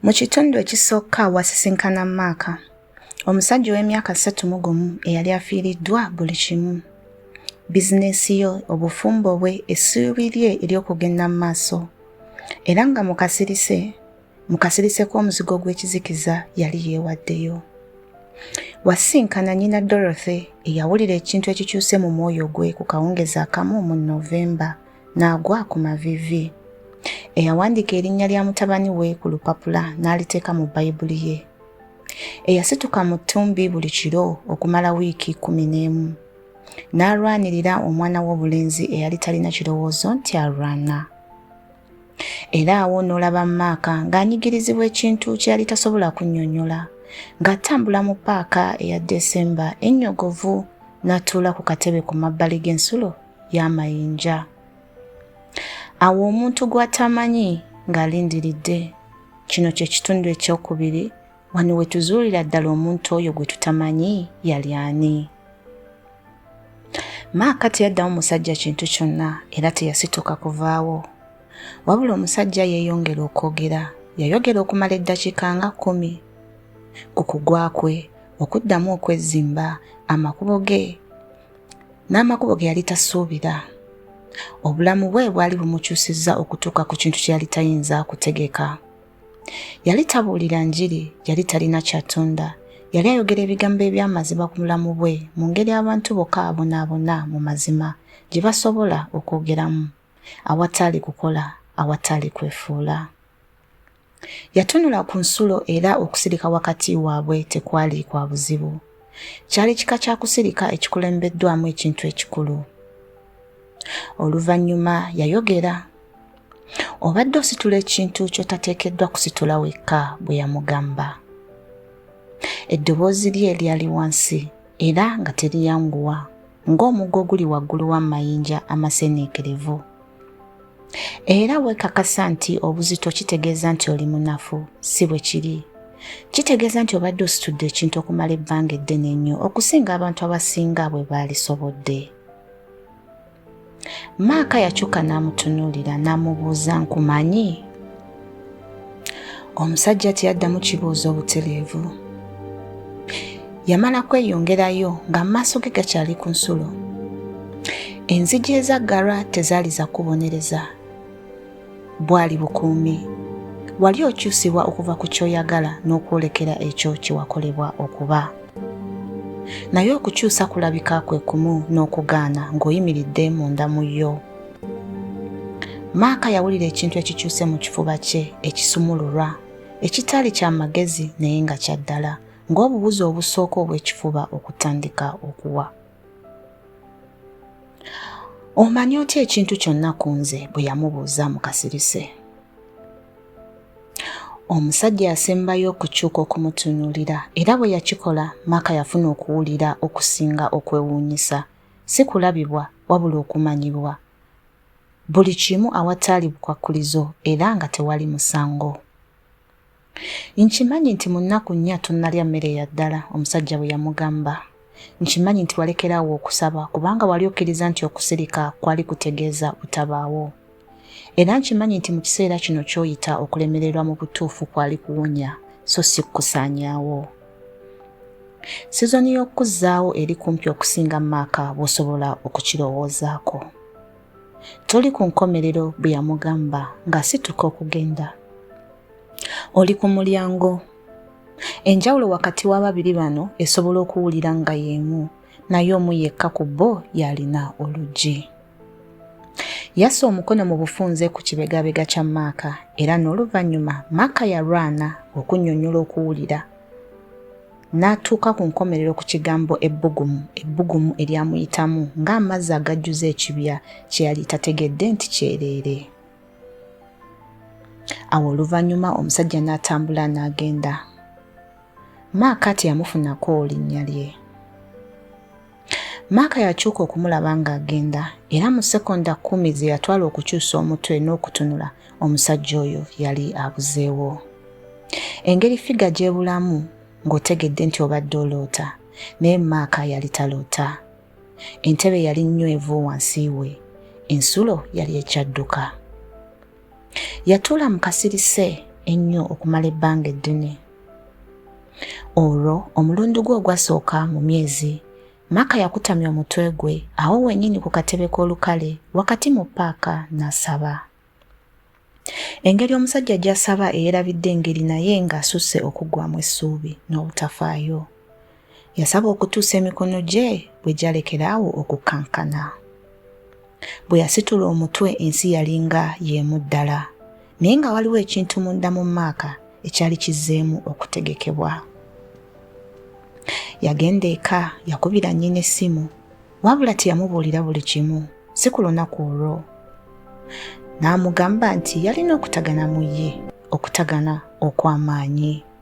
Mu kitundu ekisooka wasisinkana Maaka, omusajja ow'emyaka ssatu mu gumu eyali afiiriddwa buli kimu. Bizineesi yo, obufumbo bwe, essuubi lye ery'okugenda mu maaso. Era nga mu kasirise, mu kasirise k'omuzigo gw'ekizikiza yali yeewaddeyo. Wasisinkana nnyina Dorothy eyawulira ekintu ekikyuse mu mwoyo gwe ku kawungeezi akamu mu November. n'agwa ku maviivi. Eyawandiika erinnya lya mutabani we ku lupapula n'aliteeka mu Bayibuli ye. Eyasituka mu ttumbi buli kiro okumala wiiki kkumi n'emu. N'alwanirira omwana w'obulenzi eyali talina kirowoozo nti alwana. Era awo n'olaba Maaka ng'anyigirizibwa ekintu kye yali tasobola kunnyonnyola. ng'atambula mu paaka eya desemba ennyogovu n'atuula ku katebe ku mabbali g'ensulo y'amayinja awo omuntu gw'atamanyi ng'alindiridde kino kye kitundu ekyokubiri wano we tuzuulira ddala omuntu oyo gwe tutamanyi yali ani maaka teyaddamu musajja kintu kyonna era teyasituka kuvaawo wabula omusajja yeeyongera okwogera yayogera okumala eddakiika nga kkumi ku kugwa kwe okuddamu okwezzimba amakubo ge n'amakubo ge yali tasuubira obulamu bwe bwali bumukyusizza okutuuka ku kintu kye yali tayinza kutegeka yali tabuulira njiri yali talina kyatunda yali ayogera ebigambo eby'amazima ku mulamu bwe mu ngeri abantu bokka abonaabona mu mazima gye basobola okwogeramu awataali kukola awataali kwefuula Yatunula ku nsulo era okusirika wakati waabwe tekwali kwa buzibu. Kyali kika kya kusirika ekikulembeddwamu ekintu ekikulu. Oluvannyuma yayogera, Obadde ositula ekintu ky'otateekeddwa kusitula wekka, bwe yamugamba. Eddoboozi lye lyali wansi era nga teriyanguwa, ng'omuggo oguli waggulu w'amayinja amaseniikirivu. Era weekakasa nti obuzito kitegeeza nti oli munafu, si bwe kiri. Kitegeeza nti obadde ositudde ekintu okumala ebbanga eddene ennyo okusinga abantu abasinga bwe baalisobodde. Maaka yakyuka n'amutunuulira n'amubuuza nkumanyi? omusajja teyaddamu kibuuzo obutereevu yamala kweyongerayo nga amaaso ge gakyali ku nsulo enzigi ezaggalwa tezaali za kubonereza bwali bukuumi wali okyusibwa okuva ku kyoyagala n'okwolekera ekyo kyewakolebwa okuba naye okukyusa kulabika kwe kumu n'okugaana ng'oyimiridde munda mu yo Maaka yawulira ekintu ekikyuse mu kifuba kye ekisumululwa, ekitaali kya magezi naye nga kya ddala, ng'obuwuzi obusooka obw'ekifuba okutandika okuwa. Omanyi otya ekintu kyonna ku nze? bwe yamubuuza mu kasirise. Omusajja yasembayo okukyuka okumutunuulira era bwe yakikola Maaka yafuna okuwulira okusinga okwewuunyisa si kulabibwa wabula okumanyibwa buli kimu awataali bukwakkulizo era nga tewali musango. Nkimanyi nti mu nnaku nnya tonnalya mmere ya ddala, omusajja bwe yamugamba. Nkimanyi nti walekeraawo okusaba kubanga wali okkiriza nti okusirika kwali kutegeeza butabaawo. Era nkimanyi nti mu kiseera kino ky'oyita okulemererwa mu butuufu kwali kuwonya so si kukusaanyaawo. Sizoni y'okukuzzaawo eri kumpi okusinga maaka bw'osobola okukirowoozaako. Toli ku nkomerero bwe yamugamba ng'asituka okugenda. Oli ku mulyango. Enjawulo wakati w'ababiri bano esobola okuwulira nga y'emu, naye omu yekka ku bo y'alina oluggi. Yassa omukono mu bufunze ku kibegabega kya Maaka era n'oluvannyuma Maaka yalwana okunnyonnyola okuwulira n'atuuka ku nkomerero ku kigambo ebbugumu ebbugumu eryamuyitamu ng'amazzi agajjuza ekibya kye yali tategedde nti kyereere. Awo oluvannyuma omusajja n'atambula n'agenda. Maaka teyamufunako linnya lye. Maaka yakyuka okumulaba ng'agenda era mu sekonda kkumi ze yatwala okukyusa omutwe n'okutunula omusajja oyo yali abuzeewo. Engeri figa gy'ebulamu ng'otegedde nti obadde oloota naye maaka yali taloota. Entebe yali nnywevu wansi we, ensulo yali ekyadduka. yatuula mu kasirise ennyo okumala ebbanga eddene olwo omulundi gwe ogwasooka mu myezi maka yakutamya omutwe gwe awo wenyini ku katebe k'olukale wakati mu paaka n'asaba engeri omusajja gy'asaba eyerabidde engeri naye ng'asusse okuggwamu essuubi n'obutafaayo Yasaba okutuusa emikono gye bwe gyalekera awo okukankana. Bwe yasitula omutwe ensi yalinga y'emu ddala, naye nga waliwo ekintu munda mu maaka ekyali kizzeemu okutegekebwa. Yagenda eka yakubira nnyina essimu, wabula teyamubuulira buli kimu, si ku lunaku olwo. N'amugamba nti yalina okutagana mu ye, okutagana okw'amaanyi.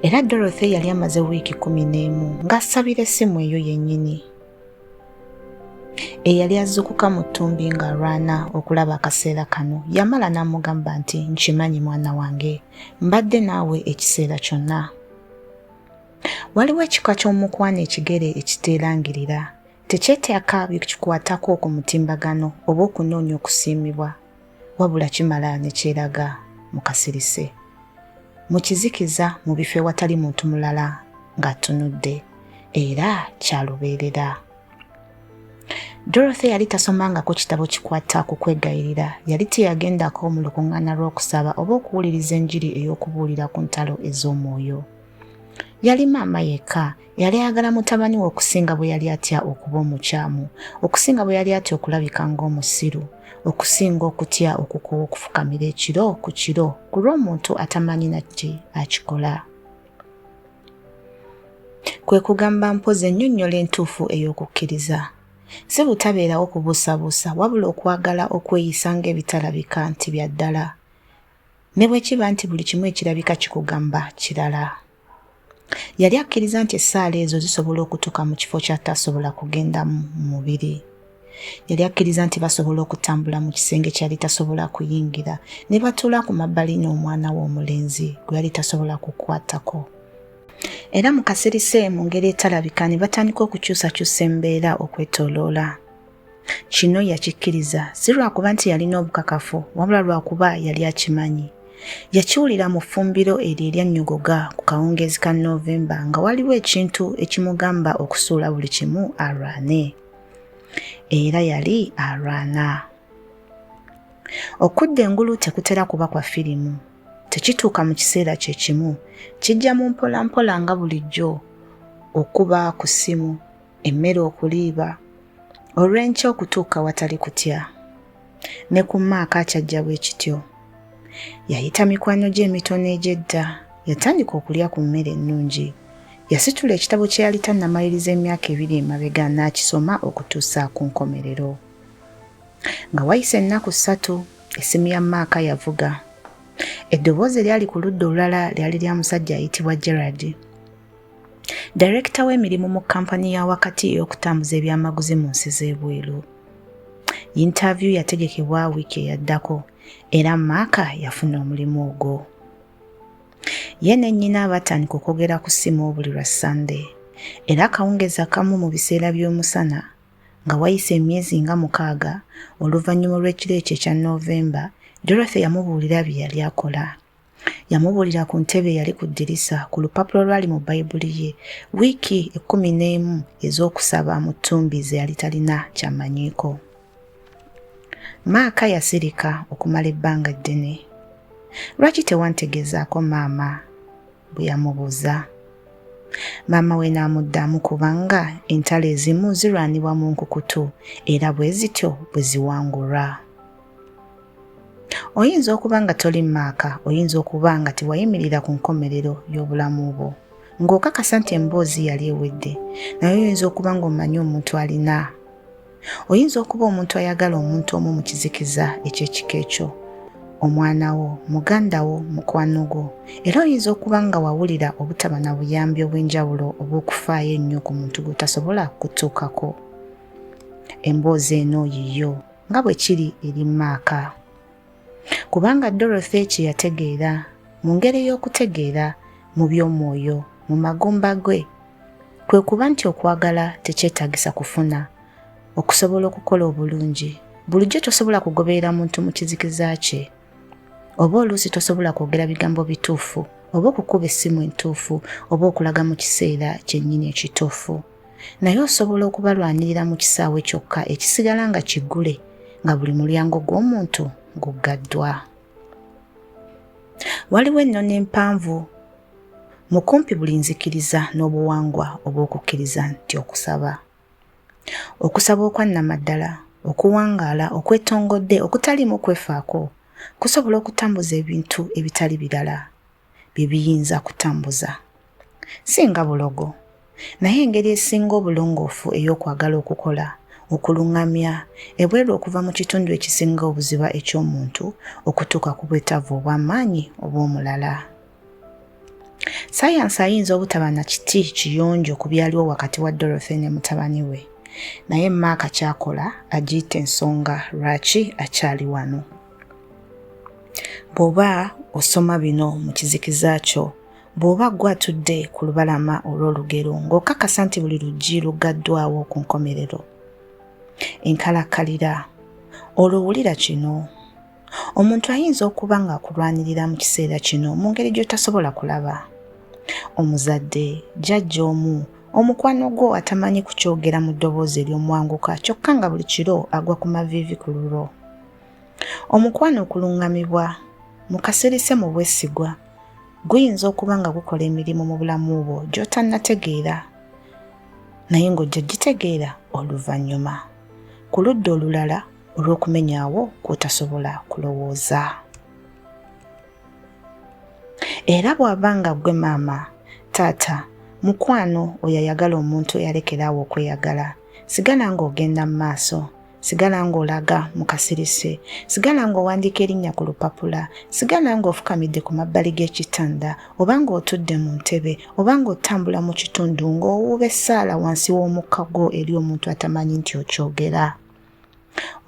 era dorothy yali amaze wiiki kumi n'emu ng'asabira essimu eyo yennyini eyali azukuka mu ttumbi ng'alwana okulaba akaseera kano yamala n'amugamba nti nkimanyi mwana wange mbadde naawe ekiseera kyonna waliwo ekika ky'omukwano ekigere ekiteerangirira tekyeteaka byekikwatako ku mutimbagano oba okunoonya okusiimibwa wabula kimala ne kyeraga mu kasirise mu kizikiza mu bifo ewatali muntu mulala ng'atunudde era kyalubeerera dorothy yali tasomangako kitabo kikwata ku kwegayirira yali teyagendako mu lukuŋŋaana lw'okusaba oba okuwuliriza enjiri ey'okubuulira ku ntalo ez'omwoyo Yali maama yekka eyali ayagala mutabani we okusinga bwe yali atya okuba omukyamu, okusinga bwe yali atya okulabika ng'omusiru, okusinga okutya okukowa okufukamira ekiro ku kiro ku lw'omuntu atamanyi naki akikola. Kwe kugamba mpozi ennyonnyola entuufu ey'okukkiriza. Si butabeerawo kubuusabuusa wabula okwagala okweyisa ng'ebitalabika nti bya ddala. Ne bwe kiba nti buli kimu ekirabika kikugamba kirala. Yali akkiriza nti essaala ezo zisobola okutuuka mu kifo ky'ataasobola kugendamu mu mubiri. Yali akkiriza nti basobola okutambula mu kisenge kyali tasobola kuyingira ne batuula ku mabbali n'omwana we omulenzi gwe yali tasobola kukwatako. Era mu kasirise mu ngeri etalabika ne batandika okukyusakyusa embeera okwetoloola. Kino yakikkiriza si lwakuba nti yalina obukakafu wabula lwakuba yali akimanyi. Yakiwulira mu ffumbiro eryo eryannyogoga ku kawungeezi ka Noovemba nga waliwo ekintu ekimugamba okusuula buli kimu alwane. Era yali alwana. Okudda engulu tekutera kuba kwa firimu. Tekituuka mu kiseera kye kimu. Kijja mu mpolampola nga bulijjo okuba ku ssimu. emmere okuliiba olw'enkya okutuuka watali kutya ne ku maaka akyajja bwe kityo yayita mikwano gye emitono egy'edda yatandika okulya ku mmere ennungi yasitula ekitabo kye yali tannamaliriza emyaka ebiri emabega n'akisoma okutuusa ku nkomerero nga wayise ennaku ssatu essimu ya maaka yavuga eddoboozi eryali ku ludda olulala lyali lya musajja ayitibwa gerard Dayirekita w'emirimu mu kkampani ya wakati ey'okutambuza ebyamaguzi mu nsi z'ebweru. Yintavyu yategekebwa wiiki eyaddako era Maaka yafuna omulimu ogwo. Ye ne nnyina batandika okwogera ku ssimu buli lwa Ssande era akawungeezi akamu mu biseera by'omusana nga wayise emyezi nga mukaaga oluvannyuma olw'ekiro ekyo ekya Noovemba, Dorothy yamubuulira bye yali akola. Yamubuulira ku ntebe eyali ku ddirisa, ku lupapula olwali mu Bayibuli ye, wiiki ekkumi n'emu ez'okusaba mu ttumbi ze yali talina ky'amanyiiko. Maaka yasirika okumala ebbanga ddene. Lwaki tewantegeezaako maama? bwe yamubuuza. Maama we n'amuddamu kubanga entalo ezimu zirwanibwa mu nkukutu era bwe zityo bwe ziwangulwa. oyinza okuba nga toli mu maaka oyinza okuba nga tewayimirira ku nkomerero y'obulamu bwo ng'okakasa nti emboozi yali ewedde naye oyinza okuba ng'omanyi omuntu alina oyinza okuba omuntu ayagala omuntu omu mu kizikiza eky'ekika ekyo omwana wo muganda wo mukwano gwo era oyinza okuba nga wawulira obutaba na buyambi obw'enjawulo obw'okufaayo ennyo ku muntu gw'otasobola kutuukako emboozi eno yiyo nga bwe kiri eri maaka kubanga dorothy kye yategeera mu ngeri y'okutegeera mu by'omwoyo mu magumba gwe kwe kuba nti okwagala tekyetagisa kufuna okusobola okukola obulungi bulijjo tosobola kugoberera muntu mu kizikiza kye oba oluusi tosobola kwogera bigambo bituufu oba okukuba essimu entuufu oba okulaga mu kiseera kyennyini ekituufu naye osobola okubalwanirira mu kisaawe kyokka ekisigala nga kiggule nga buli mulyango gw'omuntu guggaddwa waliwo ennono empanvu mu kumpi buli nzikiriza n'obuwangwa obw'okukkiriza nti okusaba Okusaba okwannamaddala, okuwangaala, okwetongodde, okutaliimu kwefaako, kusobola okutambuza ebintu ebitali birala bye biyinza kutambuza. Si nga bulogo, naye engeri esinga obulongoofu ey'okwagala okukola, okulungamya, ebweru okuva mu kitundu ekisinga obuziba eky'omuntu okutuuka ku bwetaavu obw'amaanyi obw'omulala. sayansi ayinza obutaba na kiti kiyonjo ku byaliwo wakati wa dorothy ne mutabani we naye maaka kyakola agiyita ensonga lwaki akyali wano bw'oba osoma bino mu kizikiza kyo bw'oba gwe atudde ku lubalama olw'olugero ng'okakasa nti buli luggi luggaddwawo ku nkomerero enkalakkalira olwo wulira kino Omuntu ayinza okuba ng'akulwanirira mu kiseera kino mu ngeri gy'otasobola kulaba. Omuzadde, jjajja omu, omukwano gwo atamanyi kukyogera mu ddoboozi ery'omwanguka kyokka nga buli kiro agwa ku maviivi ku lulwo. Omukwano okuluŋŋamibwa mu kasirise mu bwesigwa guyinza okuba nga gukola emirimu mu bulamu bwo gy'otannategeera naye ng'ojja gitegeera oluvannyuma. Ku ludda olulala, olw'okumenyawo kwotasobola kulowooza era bw'aba nga gwe maama taata mukwano oyo ayagala omuntu eyalekeraawo okweyagala sigala ng'ogenda mu maaso sigala ng'olaga mu kasirise sigala ng'owandiika erinnya ku lupapula sigala ng'ofukamidde ku mabbali g'ekitanda oba ng'otudde mu ntebe oba ng'otambula mu kitundu ng'owuuba essaala wansi w'omukka gwo eri omuntu atamanyi nti okyogera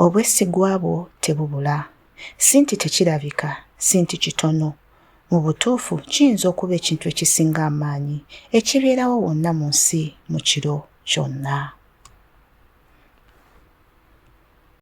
Obwesigwa bwo tebubula. Si nti tekirabika, si nti kitono. Mu butuufu, kiyinza okuba ekintu ekisinga amaanyi ekibeerawo wonna mu nsi mu kiro kyonna.